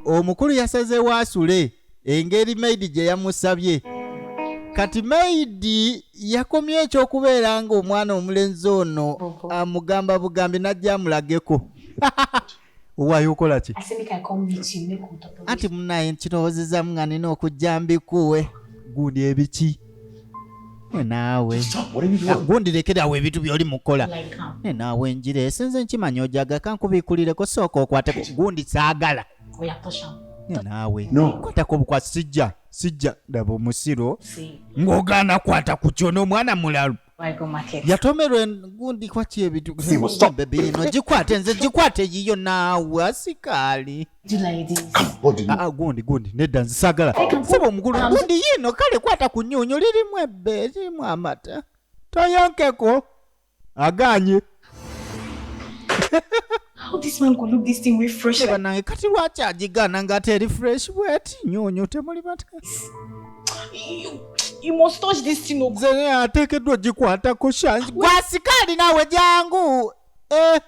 omukulu yasazeewo asule engeri maidi gye yamusabye kati maidi yakomye ekyokubeera nga omwana omulenzi ono amugamba bugambi najja amulageko owaayo okola ki anti munaye nkirowoozezamu nga nina okujja mbikuwe gundi ebiki ne naawe gundi lekera awo ebintu byoli mukola ne naawe njira esinze nkimanya ojaga kankubikulireko sooka okwateko gundi saagala ne naawe kwatako obukwasi sijja sijja ndaba omusiro ng'ogaana kwata ku kyo n'omwana mulalu yatomerwa engundi kwaki ebitubebi no gikwate nze gikwate yiyo naawe asikaali ah, ah, gundi gundi nedda nzisagala saba omukulu gundi yiino kale kwata ku nyunyu lirimu ebbe lirimu amata toyonkeko aganye How this man could look this thing with fresh like banange kati lwaki agigana nga ate eri fresh bweti nyonyo temuli bata you, you must touch this thing oh. nze naye ateekeddwa ogikwatako shangi gwasikaali naawe jangu eh.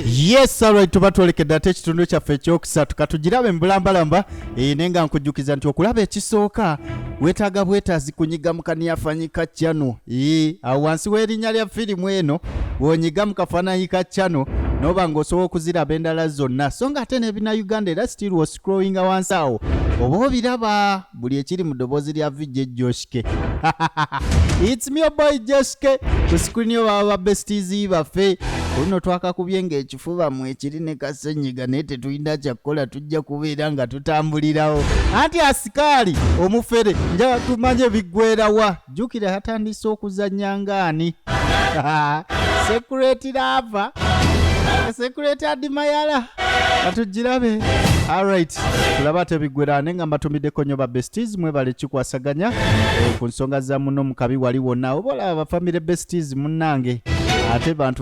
yes alright tuba twolekedde ate ekitundu kyaffe ekyokusatu katugirabe mu bulambalamba e, naye nga nkujjukiza nti okulaba ekisooka weetaaga bwetaazi kunyiga mu kaniyafanyi ka cano e, awo wansi w'erinnya lya firimu eno wonyiga mu kafananyi ka cano noba ng'osobola okuziraba endala zonna so nga ate n'ebina uganda era still woscrowinga wansi awo oba obiraba buli ekiri mu ddoboozi lya vijja ejjoshike its me boy joshike ku screen yo baba ba besties baffe oluno twakakubye ng'eki fubamu ekiri ne kasenyiga naye tetulina kyakukola tujja kubeera nga tutambulirawo anti asikaali omufere njaga tumanye biggwerawa jjukira yatandise okuzannya ngaani sekureti laava sekureti adimayala katugirabe alright tulaba tebiggwera ne nga mbatumiddeko nnyo babesties mwebale kikwasaganya eh, ku nsonga za muno mu kabi wali wonna oba olaba bafamire besties munnange ate bantu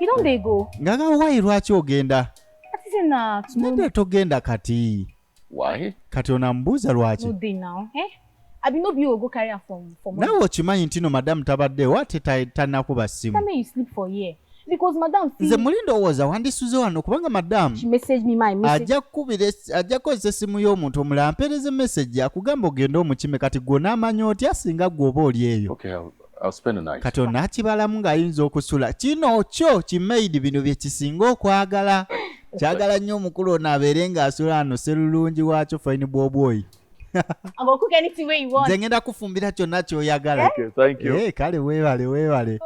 You don't they go. Ngaga why lwaki ogenda? Ati say na tomorrow. Nende togenda kati. Why? Kati onambuuza lwaki? No day now, eh? Abi no be you go carry her from from. Nawe okimanyi ntino madam tabaddewo ate tanakuba simu. Tell me you sleep for here. Because madam see. Nze muli ndowooza wandisuze wano kubanga madam. She message me my message. Ajja kukubira ajja kozesa essimu y'omuntu omulala ampeereze message akugamba ogende omukime kati gw'onaamanya otya singa gw'oba oli eyo. Okay, I'll... kati onakibalamu ng'ayinza okusula kino kyo kimaidi bino bye kisinga okwagala kyagala nnyo omukulu ono abeere ng'asula ano serulungi waakyo fayini bwobwoyi nze ngenda kufumbira kyonna kyoyagala eh, kale weebale weebale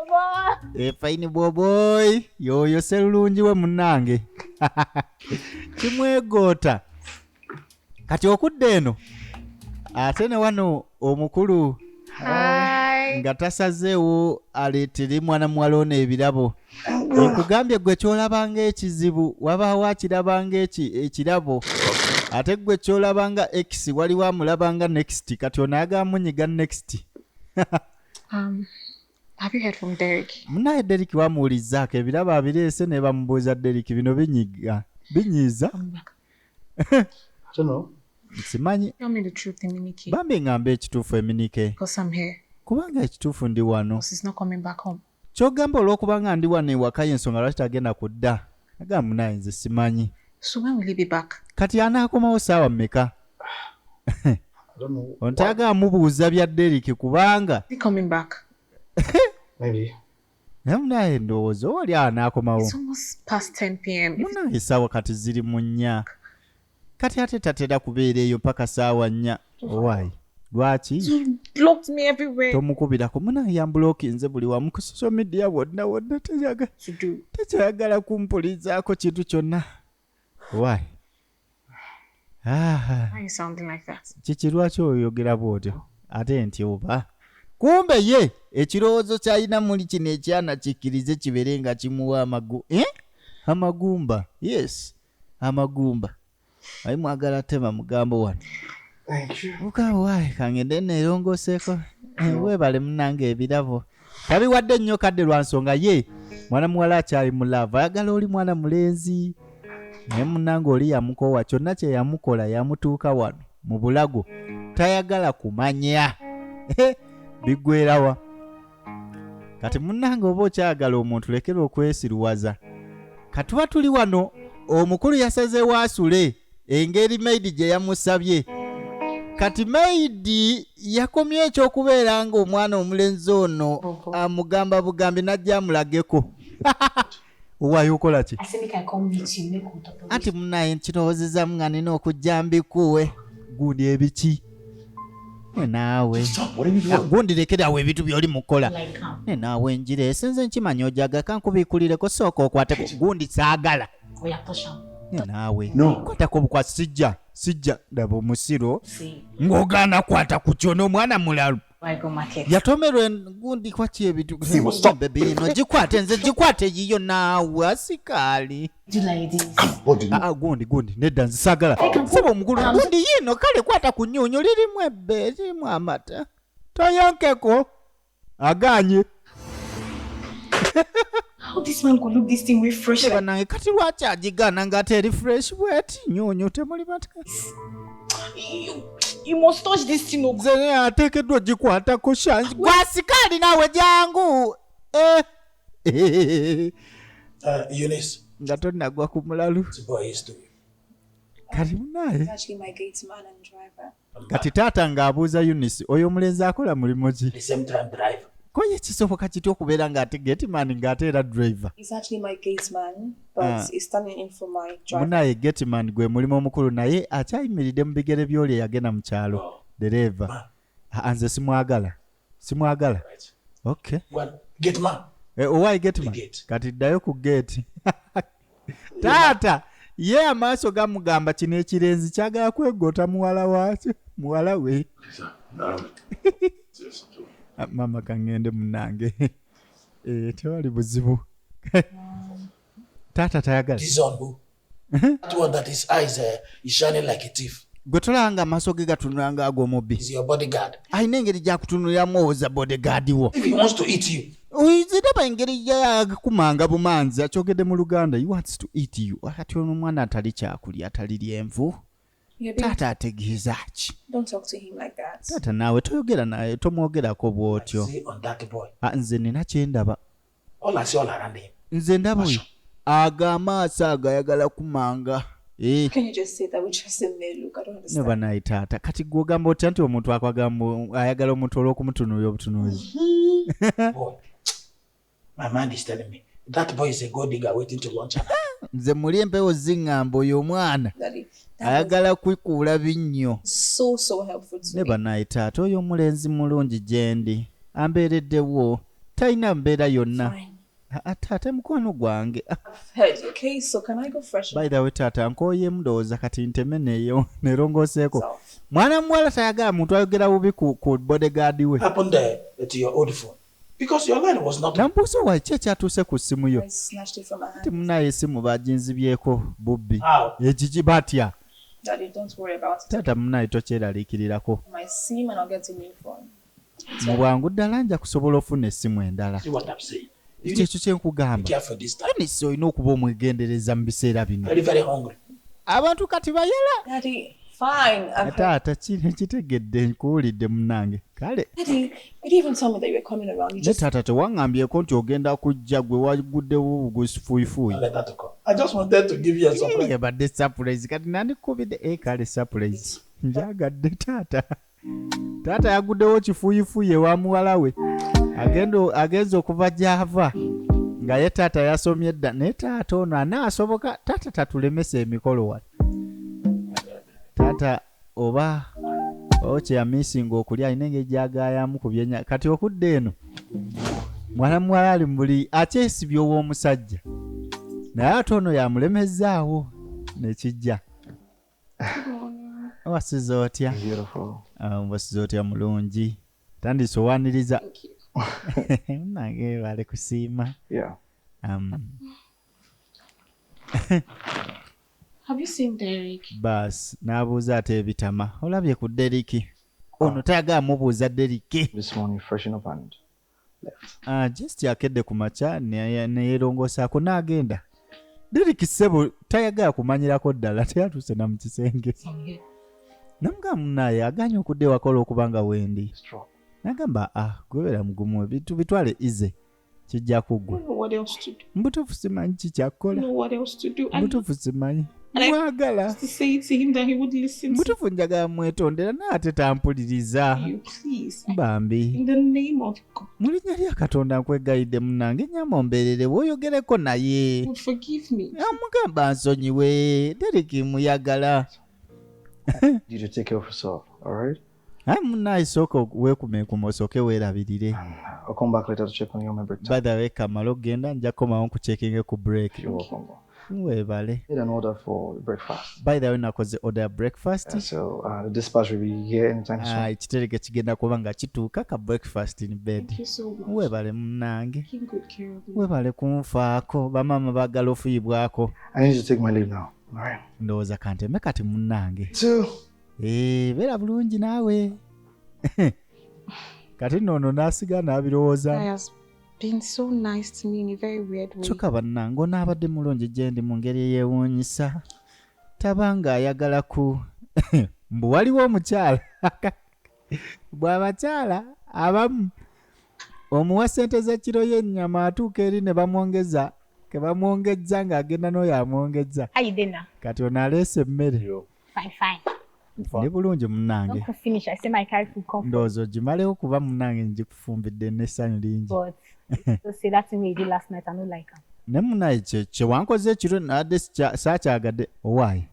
eh, fayini bwobwoyi yooyo serulungi we munnange kimwegoota kati okudda eno ate ne wano omukulu nga tasazeewo aleetere mwana muwala ono ebirabo nkugambye gwe kyolabanga ekizibu wabaawo akirabanga ekirabo ate gwe kyolabanga x waliwo amulabanga next kati onaagamunyiga next um, munaye derik wamuwulizzaako ebirabo abireese nebamubuuza derik bino binyiga binyiiza nkimanyi bambi ngamba ekituufu eminike kubanga ekituufu ndi wano kyogamba olwokuba nga ndi wano ewaka yensonga lwaki tagenda ku dda aga munaye nze simanyi kati anaakomawo saawa mumeka ontaga amubuuza bya deriki kubanga naye munaye ndowooza oli anaakomawo munaye esaawa kati ziri mu nnya kati ate tatera kubeera eyo mpaka saawa nnya owaayi lwaki tomukubirako munaye yambulokinze buli wamu ku social media wonna wonna tekyayagala kumpulizaako kintu kyonna Why? Ah. Why sounding like that? Kiki lwaki oyogera bwotyo? Ate nti oba. Kumbe ye ekirowoozo kyalina muli kino ekyana kikkirize kibeere nga kimuwa amagu eh? amagumba yes amagumba ayi mwagala tema mugambo wano mukama wae kangende neerongoseeko eh, weebale munange ebirabo tabiwadde nnyo kadde lwa nsonga ye mwana muwala akyali mu laavu ayagala oli mwana mulenzi naye munange oli yamukoowa kyonna kye yamukola yamutuuka wano mu bulago tayagala kumanya eh, biggwerawa kati munange oba okyagala omuntu lekera okwesiruwaza katuba tuli wano omukulu yasazeewo asule engeri maidi gye yamusabye kati maidi yakomye ekyokubeera nga omwana omulenzi ono amugamba bugambi najja amulageko owaayo okola ki anti munaye nkirowoozezamu nga nina okujja mbikuwe gundi ebiki nenaawe ah, gundi lekerawo ebintu byoli mukola nenaawe njira esenze nkimanya ojaga kankubikulireko sooka okwateko gundi saagala naawe kwatako obukwasi sijja sijja ndaba omusiro ng'ogaana kwata ku kyo n'omwana mulalu yatomerwa engundi kwaki ebitubebiino gikwate nze gikwate yiyo naawe asikaali ah, ah, gundi gundi nedda nzisagala saba omukulu gundi yiino kale kwata ku nyunyu lirimu ebbe lirimu amata toyonkeko agaanye banange kati lwaki agigana nga teri fresh bweti nyonyo temuli batnze atekeddwa ogikwatako shangi gwasika ali nawe jangu eh. uh, nga tonagwa ku mulalu kalimunaye kati taata ng'abuuza unisi oyo omulenzi akola mulimu ki koye kisoboka kitya okubeera ng'ate getman ng'ate era driver munaye ah. getman gwe mulimu omukulu naye akyayimiridde mu bigere by'oli eyagenda mu kyalo oh. dereeva ah, nze simwagala simwagala okay get man eh, owai oh, get man kati ddayo ku gate taata ye amaaso gamugamba kino ekirenzi kyagala kwegota muwala wakyo muwala we ah, mama kangende munange eh, tewali buzibu taata tayagala gwe tolanga amaaso ge gatunula nga ag'omubbi alina engeri gyakutunuliramu owoza bodyguard wo oyiziraba engeri yakumanga bumanzi akyogedde mu luganda wants to eat you kati ono omwana atali kyakulya atali lyenvu taata ategeeza ki taata naawe toyogera naye tomwogerako bw'otyo ah, nze nina kyendaba Ona si ona arambe him. Nze ndaba oyo aga amaaso ago ayagala kumanga. Eh. Can you just say that we trust him may look I don't understand. Neba naye taata kati gwe ogamba otya nti omuntu akwagamba ayagala omuntu olw'okumutunuuya obutunuuzi. Mm-hmm. Boy, my mind is telling me that boy is a gold digger waiting to launch. Nze muli empewo zingamba oyo omwana. Daddy. ayagala kwikuula binnyo ne banaye taata oyo omulenzi mulungi gyendi ambeereddewo talina mbeera yonna taata mukwano gwange bayirawe taata nkoyemu ndowooza kati nteme neyo nerongoseeko mwana muwala tayagala muntu ayogera bubi ku bodegaadi we Namubuuza wa ki ekyatuuse ku ssimu yo anti munaye essimu baginzibyeko bubbi. Ekiki? Batya? Taata munaye tokyeraliikirirako. Mu bwangu ddala nja kusobola ofuna essimu endala. Ekyo ekyo kye nkugamba. Eunice olina okuba omwegendereza mu biseera bino. Abantu kati bayala. Taata kitegedde nkuwulidde munange kale. ne taata tewaŋŋambyeko nti ogenda kujja gwe waguddewo bugusifuyifuuyi ebadde sapulayizi kati nandikubidde e eh, kale sapulayizi njagadde taata taata yaguddewo kifuyifuyi ewa muwala we agenza okuva gyava nga ye taata yasomye dda naye taata ono anaasoboka taata tatulemesa emikolo wano taata Oba oh kye ya missinga okulya alina engeri gy'agaayamu ku byenya kati okudda eno mwana muwala ali mu buli akyesibye ow'omusajja naye ate ono yamulemezzaawo ne kijja wasiza otya wasiza ah, otya mulungi tandise owaniriza nange bali kusiima um, Bas n'abuuza ate ebitama olabye ku Deriki ono tayagala mubuuza Deriki ah, just akedde ku makya neyerongoosaako n'agenda Deriki ssebo tayagala kumanyirako ddala teyatuuse na mu kisenge namugamba munaaye aganye okudda ewakola okuba nga wendi nagamba ah gwebeera mugumu ebintu bitwale ize kijja kuggwa mbutuufu simanyi kikyakkola mbutuufu simanyi mwagala mbutuufu njagala mwetondera naye ate tampuliriza bambi mu linnya lya katonda nkwegayidde munange nyama ombeerere woyogereko naye amugamba nsonyiwe deriki muyagala Naye munaye sooka weekume ku mosoke weerabirire. By the way kamala okugenda nja kukomawo nkucekinge ku break. Weebale. By the way nakoze order ya breakfast. Ekitereke uh, ah, kigenda kuba nga kituuka ka breakfast in bed. Weebale munnange. Weebale kunfaako bamaama baagala ofuyibwako. Ndowooza kanteme kati munnange. Eh, beera bulungi naawe kati nno ono n'asiga n'abirowooza kyokka bannange onaabadde mulungi gye ndi mu ngeri eyeewuunyisa taba ng'ayagala ku mbu waliwo omukyala bw'abakyala abamu omuwa ssente z'ekiro y'ennyama atuuka eri ne bamwongeza ke bamwongezza ng'agenda n'oyo amwongezza kati ono aleese emmere Fine, fine. Ndi bulungi munnange. Ndowooza ogimalewo kuba munnange ngikufumbidde n'essanyu lingi. Ne munaye kye wankoze ekiro nadde saakyagadde owaaye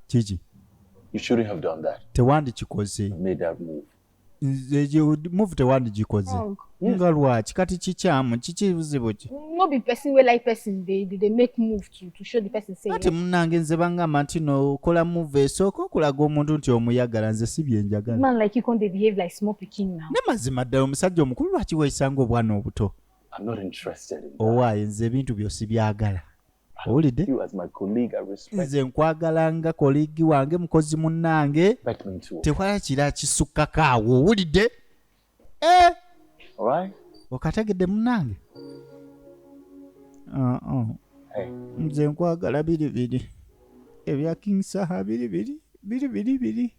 kiki tewandikikoze nze gye- move tewandigikoze Wrong. nga lwaki kati kikyamu kiki buzibu ki No be person wey like person dey dey dey make move to to show the person say. kati munange nze bangamba nti no kola move esooka okulaga omuntu nti omuyagala nze si byenjagala Man like you come dey behave like small pikin now. ne mazima ddala omusajja omukulu lwaki weesanga obwana obuto I'm not interested in that. owaaye nze ebintu byo sibyagala owulidde nze nkwagala nga koligi wange mukozi munnange tewala kira kisukkako awo owulidde eh! okategedde munnange ah, ah. nze nkwagala biri biri ebya king saha biri biri biri biri biri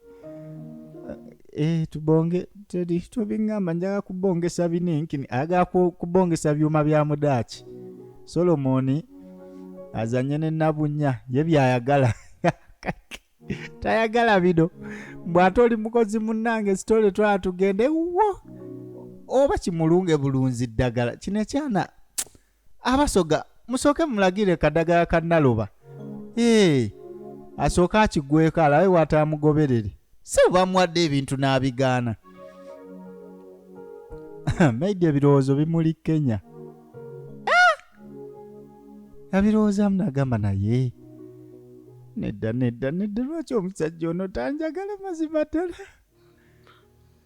eh, tubonge teri tobingamba njaga kubongesa bininkini aga kubongesa byuma bya mudaaki solomoni azanye ne nabunya ye byayagala tayagala bino bwate oli mukozi munange sitole twala tugende wo oba kimulunge bulunzi ddagala kino ekyana abasoga musooke mumulagire kadagala ka naloba ee asooke akigweko alabe watamugoberere si bamuwadde ebintu n'abigaana maidi ebirowoozo bimuli kenya yabirowoozamu nagamba naye nedda nedda nedda lwaki omusajja ono tanjagala mazima ddala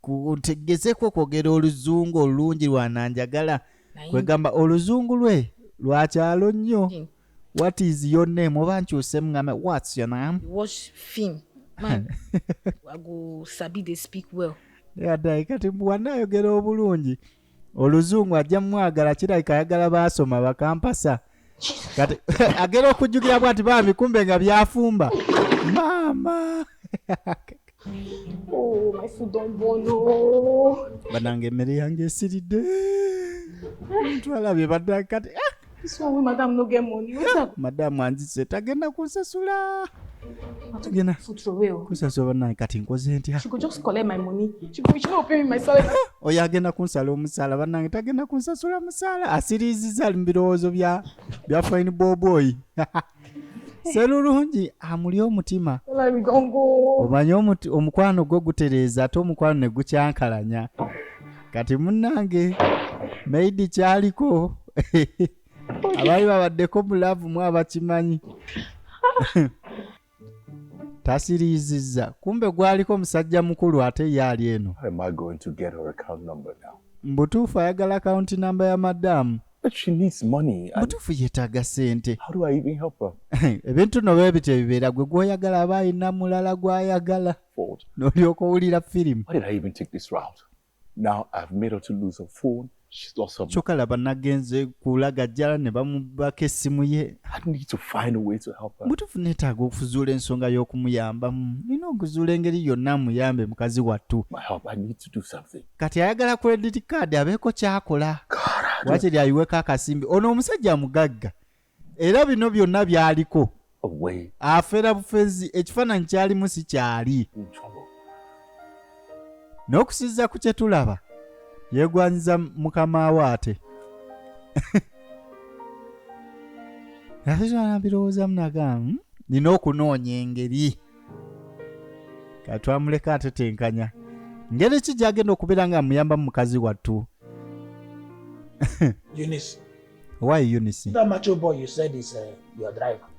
kutegezeko kwogera oluzungu olulungi lwananjagala kwegamba oluzungu lwe lwakyalo nnyo what is your name oba nkyuse mugame whats your name watch film man i go sabi they speak well yadayi kati bwanayogera obulungi oluzungu ajja mumwagala kirabika ayagala baasoma bakampasa kati agera okujjukira bwati bambi kumbe nga byafumba maama oh, banange emmere yange esiridde ntwalabye badda kati ah! madamu anzise tagenda kunsasula tagenda kunsasula banaye kati nkoze ntya oyo agenda kunsala omusaala banange tagenda kunsasula musaala asiriiziza ali mu birowoozo bya fine boboyi serulungi amuli omutima omanye omukwano gwo gutereeza ate omukwano ne gukyankalanya kati munnange maidi kyaliko abaali babaddeko mu laavu mu abakimanyi tasiriiziza kumbe gwaliko omusajja mukulu ate ye ali eno mbutuufu ayagala akawunti namba ya madamu mutuufu yetaaga sente ebintu no bwe bityo bibeera gwe gwoyagala aba alina mulala gwayagala nolyoka owulira firimu kyoka laba nagenze kulagajjala ne bamubaka essimu ye mutuufu netaaga okuzuula ensonga y'okumuyambamu nina okuzuula engeri yonna muyambe mukazi wattu kati ayagala credit card abeeko kyakola wakiri ayiweko akasimbi ono omusajja mugagga era bino byonna byaliko afera bufezi ekifaananyi kyalimu si kyali n'okusiza ku kye tulaba yeegwanyiza mukama we ate ate kyona birowoozamu naga hmm, nina okunoonya engeri katwamuleka atetenkanya ngeri ki gyagenda okubeera nga amuyamba mu mukazi wattu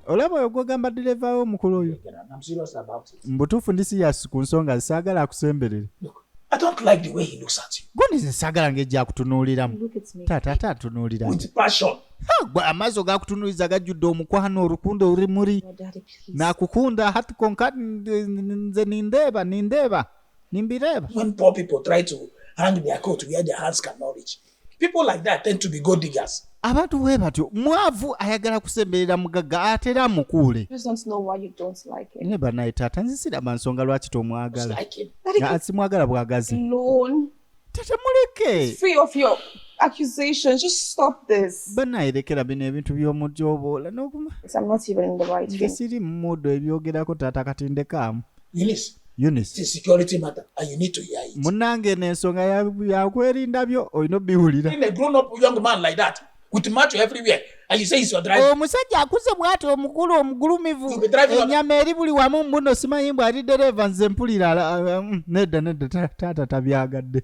olaba oyo gwogamba direva we omukulu oyo mubutuufu ndi siyasi ku nsonga zisaagala akusemberere I don't like the way he looks at you. Guni nsagala ngejja kutunuuliramu. Taata ate atunuulira. With passion. Gwe amaaso gakutunuuliza gajjudde omukwano olukundo olumuli. nakukunda hati konka nze nindeeba nindeeba nimbireeba when poor people try to hang their coat where their hands can not reach people like that tend to be gold diggers abantu bwe batyo mwavu ayagala kusemberera mugagga ate era amukuule naye banaye taata nzisiraba nsonga lwaki tomwagala simwagala bwagazi tata muleke banaye lekera bino ebintu by'omujoboola nze siri mumuudo ebyogerako taata kati ndekaamu munange eno ensonga yakwerinda byo olina obiwulira with macho everywhere and you say he's your driver omusajja akuze bwati omukulu omugulumivu enyama eri buli wamu mbuno simanyi mbu ali dereva nze mpulira mm, nedda nedda taata tabyagadde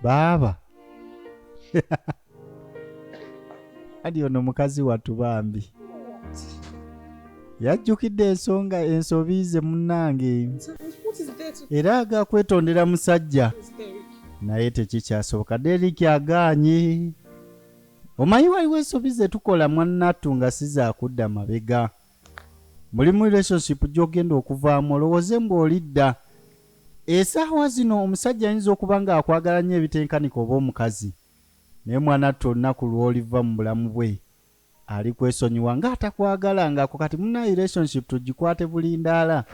baaba kati ono mukazi wattu bambi yajjukidde ensonga ensobi ze munnange era aga kwetondera musajja naye tekikyasoboka deriki agaanye omanyi waliwo ensobi ze tukola mwannattu nga sizakudda mabega mulimu relationship gy'ogenda okuvaamu olowooze ng'olidda esaawa zino omusajja ayinza okuba ng'akwagala nnyo ebitenkanika oba omukazi Naye mwanattu olunaku lwoliva mubulamu bwe alikwesonyiwa nga atakwagala nga ako kati munaye relationship tujikwate bulindaala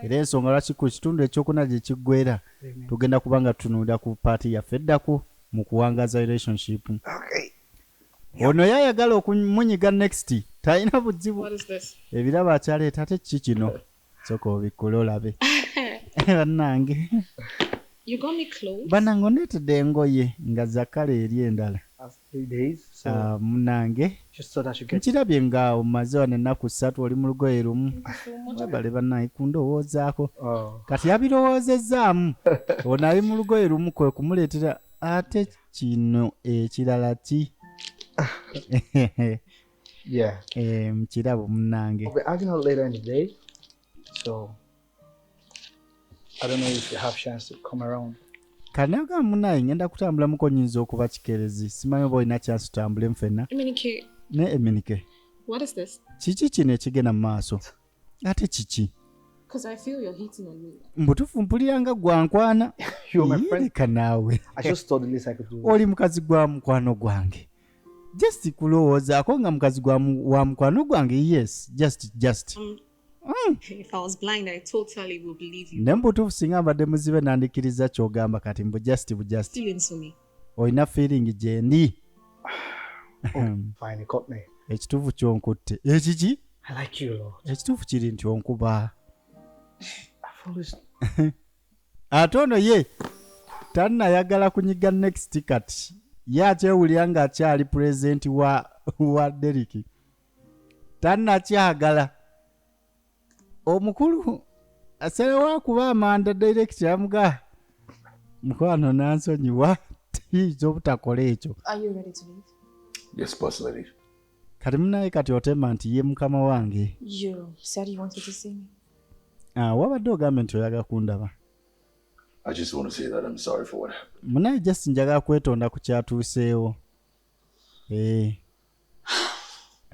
era ensonga lwaki ku kitundu ekyokuna gyekiggwera tugenda kuba nga tutunulira ku part yaffe eddako mukuwangaza relationship Ono yayagala okumunyiga next talina buzibu ebirabo akyaleeta ate kiki kino. soka obikkule olabe bannange bannange ondeetedde engoye nga zakala eri endala ah, munange nkirabye nga omaze wano ennaku ssatu oli mu lugoye lumu webale bannange kundowoozaako oh. kati yabirowoozezaamu ono ali mu lugoye lumu kwe kumuleetera ate kino ekirala ki Yeah. Eh, mukirabo munange. Okay, I cannot later in the day. So I don't know if you have chance to come around. Kanaga munaye ngenda kutambula muko nyinza okuba kikerezi. Simanyi oba olina chance tutambule mfena. Eminike. Ne Eminike. What is this? Kiki kino ekigenda mu maaso? ate kiki mbutufu mpulira nga gwankwana leka naawe oli mukazi gwa mukwano gwange just kulowoozaako nga mukazi wa mukwano gwange yes just just mm. Mm. ne mbutuufu singa mbadde muzibe nandikkiriza kyogamba kati mbu just bujust olina feeling gyendi ekituufu kyonkutte ekiki ekituufu kiri nti onkuba ate ono ye tannayagala kunyiga next kati ye akyewulira ng'akyali pulezidenti wa wa deriki tannakyagala omukulu asalawo akuba amanda direct amuga mukwano nansonyiwa tiyinza obutakola ekyo yes boss lady kati munaye kati otema nti ye mukama wange ah, wabadde ogambe nti oyaga kundaba munaye just njaga kwetonda ku kyatuuseewo eh.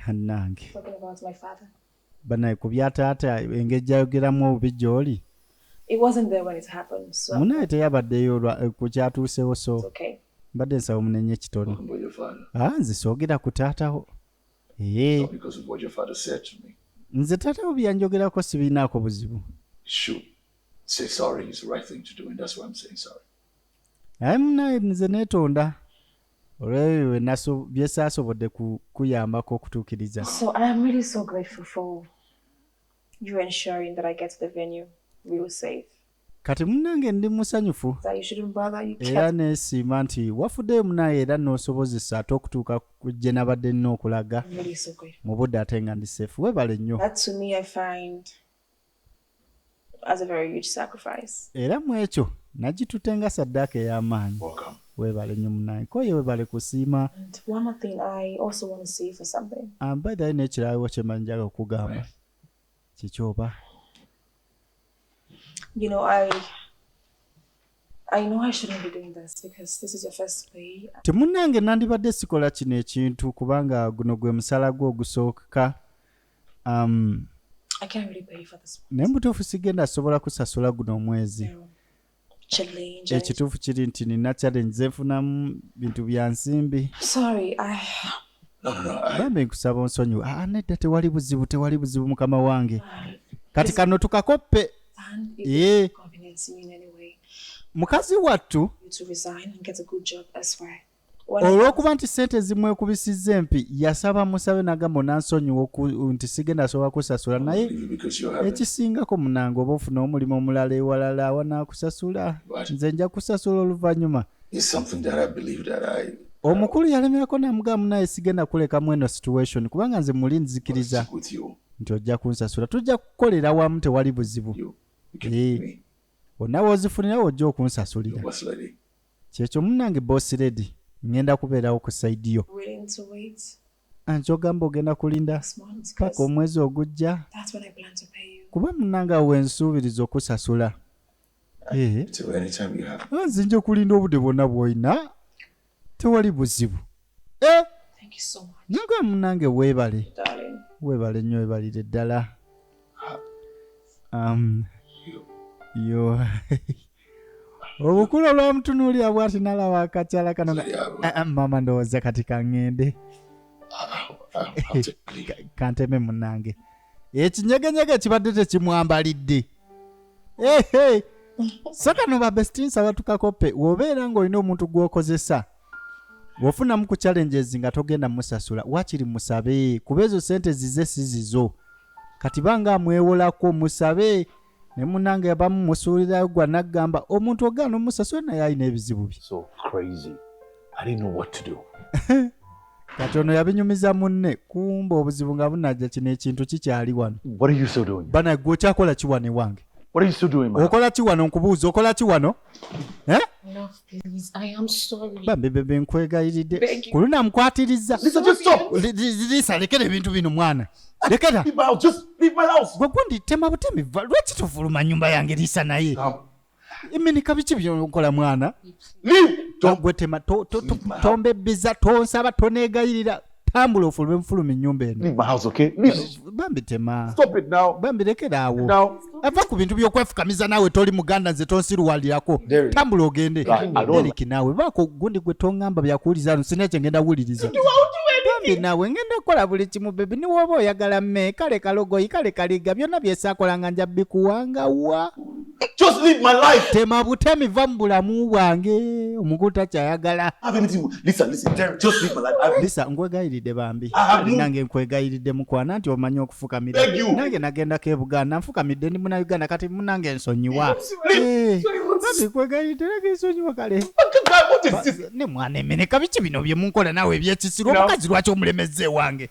anange banaye ku bya taata engeri gyayogeramu obubi gy'oli munaye teyabaddeyo eh, ku kyatuusewo so mbadde nsaba omunenye ekitone ah, nze soogera ku taatawo eh. nze taatawo byanjogerako sibirinaako buzibu aye munaye nze neetonda olwebyo byesaasobodde kukuyambako okutuukiriza so i am really so grateful for you ensuring that i get to the venue real safe kati munange ndi musanyufu era nesiima nti wafuddeyo munaye era nosobozesa ate okutuuka gye nabadde nina okulaga mu budde ate nga ndi seefu webale nnyo as a very huge sacrifice era mu ekyo nagitute nga saddaaka ey'amaanyi webale nyo munaye koye webale kusiima ambaidhayo n'ekirawo kyemanyi njaga okugamba kiki oba you know, I temunange nandibadde sikola kino ekintu kubanga guno gwe musala gwe ogusooka um, naye mubutuufu sigenda sobola kusasula guno omwezi ekituufu kiri nti nina challenge zenfunamu bintu byansimbi bambi nkusaba onsonyiwe ah, ah, nedda tewali buzibu tewali buzibu mukama wange kati kano tukakoppe ee mukazi wattu olw'okuba nti sente ezimwekubisizza empi yasaba musabe nagamba onansonyiwa nti sigenda asobola kusasula naye ekisingako munange oba ofuna omulimu omulala ewalala awanakusasula nze nja kusasula oluvannyuma right. is something that I believe that I omukulu yalemerako namugaa munaye sigenda kuleka mweno situation kubanga nze muli nzikiriza nti ojja kunsasula tujja kukolera wamu tewali buzibu eh, onawe ozifunirawo ojja okunsasulira kyekyo munange boss lady ngenda kubeerawo ku saidi yo anti ogamba ogenda kulinda paka omwezi ogujja kuba munange awo wensuubiriza okusasula Eh. Ah, nze nja kulinda obudde bwonna bwolina tewali buzibu eh. nyoga munange weebale weebale nnyo weebalire ddala ah. um, yo obukulu olwamutunuulira bwati nalaba akakyala kano ah, maama ndowooza kati kaŋŋende kanteme munange ekinyegenyege kibadde tekimwambalidde ehe so kano babestinsa batukakope wobeera ng'olina omuntu gw'okozesa wofunamu ku challenges nga togenda musasula wakiri musabe kuba ezo sente zize si zizo kati banga amwewolako musabe ne munange abamu musuulirayo gwa naggamba omuntu ogaana omusasula naye alina ebizibu bye so crazy i didn't know what to do kati ono yabinyumiza munne kumba obuzibu nga bunajja kino ekintu kikyali wano bana gwe okyakola kiwano ewange okola kiwano nkubuuza okola kiwano Eh? bambi bebe nkwegayiridde kuluna mukwatirizza lisa lekera ebintu bino mwana lekera gwe gundi tema butemi va lwaki tufuluma nyumba yange lisa naye iminika biki byokola mwana gwe tema tombebbiza tonsaba tonegayirira tambula ofulume mufulume ennyumba enobambi tema bambi lekeraawo ava ku bintu byokwefukamiza naawe toli muganda nze tonsiruwalirako tambula ogende eriki naawe baako gundi gwe tongamba byakuwuliza no sina ekyo ngenda wuwuliriza bambi naawe ngenda kukola buli kimu bebi niwooba oyagala me kale kalogoyi kale kaliga byonna byesakolanga nja bikuwangawa Just live my life. Tema butemi va mu bulamu bwange omuntu takyayagala. Lisa, lisa, just live my life. I've... Lisa, nkwegayiridde bambi. Nange nkwegayiridde mukwana nti omanyi okufukamira. Nange nagendako e Buganda nfukamidde ndi muna Uganda kati munange nsonyiwa. Eh, nange nkwegayiridde nange nsonyiwa kale. Ne mwana emeneka biki bino bye munkola naawe ebyekisiru omukazi lwaki omulemezza ewange.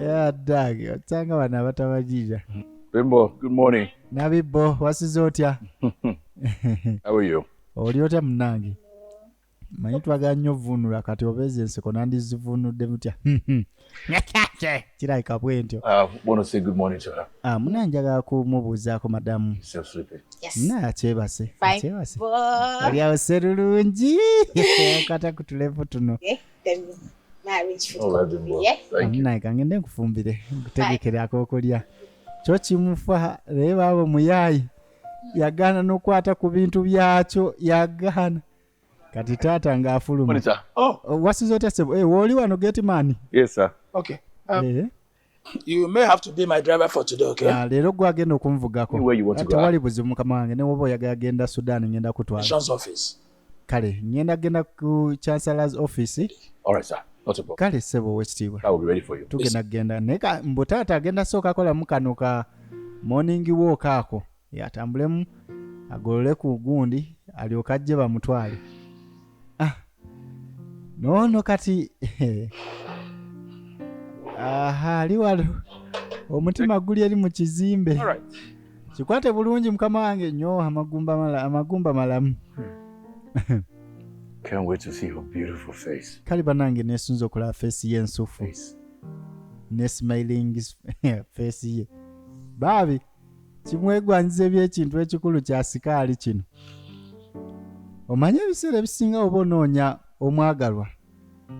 Yeah, Doug, otanga bana abatabajija. Bimbo, good morning. Nabibbo, wasize otya? How are you? Oli otya munange? Manyi twagala nnyo vvuunula kati obeeza enseko nandizivuunudde mutya. Kirabika bwentyo. Uh, wanna say good morning to her. Ah, muna njagala kumubuuzaako madamu. Still sleeping. Yes. Naye akyebase. Fine. Akyebase. Bo- Oli awo serulungi. Kata ku tulevu tuno. Eh. naye kangende nkufumbire nkutegekere akokulya kyo kimufa naye baaba omuyaayi yagaana n'okukwata ku bintu byakyo yagaana kati taata ng'afuluma oh. oh, wasiza otya sebo eh, wooli wano getimani um, eh? you may have to be my driver for today okay ah, leero gwe agenda okunvugako tewali buzibu mukama wange ne woba oyagala genda sudan ngenda kutwala office kale ngenda genda ku chancellors office all right sir kale sebo owekitiibwa tugenda kugenda naye mbu taata agenda sooka kolamu kano ka morning walk ako yatambulemu agolole ku gundi alyoke ajje bamutwale ah, noono kati aha ali walo omutima guli eri mu kizimbe kikwate bulungi mukama wange nyo amagumba amagumba malamu hmm. Can't wait to see her beautiful face. Kali banange nesunze okulaba face ye ensufu. Ne smiling face ye. Baabi. kimwegwanyiza ebyekintu ekikulu kya sikaali kino omanyi ebiseera ebisinga oba onoonya omwagalwa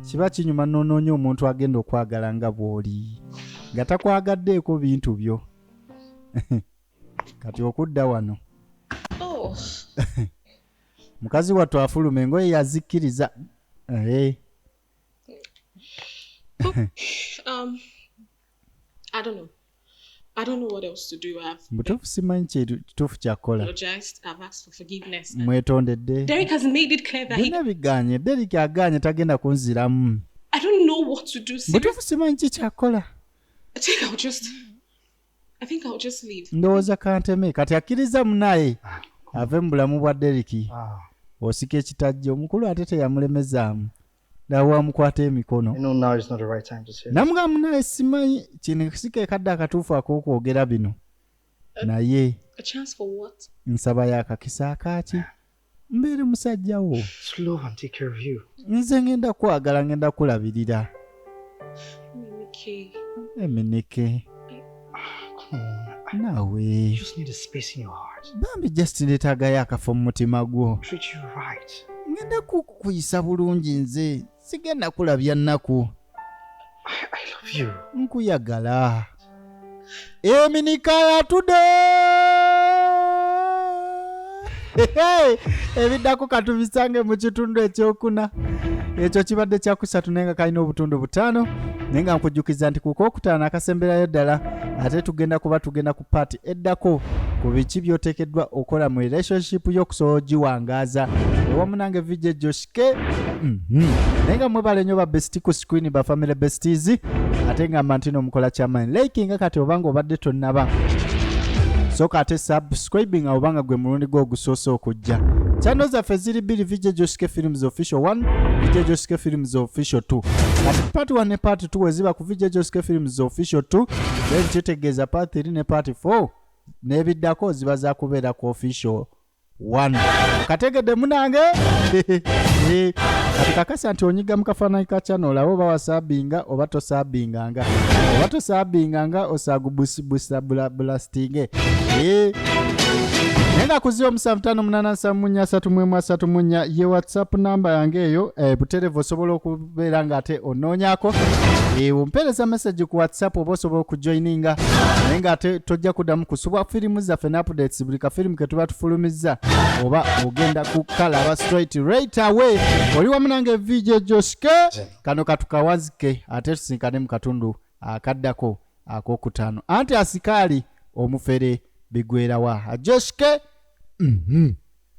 kiba kinyuma n'onoonya omuntu agenda okwagala nga bw'oli nga takwagaddeeko bintu byo kati okudda wano oh. mukazi wattu afuluma engoye yazikkiriza eh. um, I don't know what else to do. I've mbutuufu simanyi kituufu kyakukola mwetondedde byonna biganye derik aganye tagenda kunziramu mbutuufu simanyi ki kyakukola ndowooza kanteme kati akkiriza munaye ave mu bulamu bwa deriki ah. osika ekitajja omukulu ate teyamulemezaamu nawe amukwata emikono namugamba munaye simanyi kino kisika ekadde akatuufu ak'okwogera bino uh, naye nsaba yakakisa akaaki mbeere musajja wo nze ngenda kwagala ngenda kulabirira emineke naawe bambi just ndeetaagayo akafa mu mutima gwo ngenda kukuyisa bulungi nze sigenda kulabya nnaku nkuyagala eminika yatude ebiddako katubisange mu kitundu ekyokuna ekyo kibadde kyakusatu naye nga kalina obutundu butaano naye nga nkujjukiza nti kukokutaano akasemberayo ddala ate tugenda kuba tugenda ku paati eddako ku biki byoteekeddwa okola mu relationship yo okusobola ogiwangaaza ewamu nange vijjo ke mm -hmm. naye nga mwebale nyo babesti ku screen ba family besties ate nga mantino mukola kyamanyi like nga kati obanga obadde tonnaba soka ate subscribing awo banga gwe mulundi gwo ogusoose okujja chano zaffe ziri bbiri vijja joske films official 1 vijja joske films official 2 kati part 1 ne part 2 weziba ku vijja joske films official 2 then kitegeeza part 3 ne part 4 n'ebiddako ziba zakubeera ku official wano kategedde munange kati kakasa nti onyiga mu kafaananyi ka kyano olaba oba wasaabinga oba tosaabinganga oba tosaabinganga osaagubusibusabulastinge naye nga kuzi omusanvu tano munana nsamu munya asatu mwemu asatu munya ye whatsapp namba yange eyo eh, buterevu osobola beera nga ate onoonyako ompeereza message ku whatsapp oba osobola okujoininga naye nga ate tojja kuddamu kusubwa firimu zaffe ne updates buli kafirimu ke tuba tufulumizza oba ogenda kukalaba straight right away oli wamu nange vj joske kano katukawazike ate tusinkane mu katundu akaddako akokutaano anti asikaali omufere bigwerawa joske mm -hmm.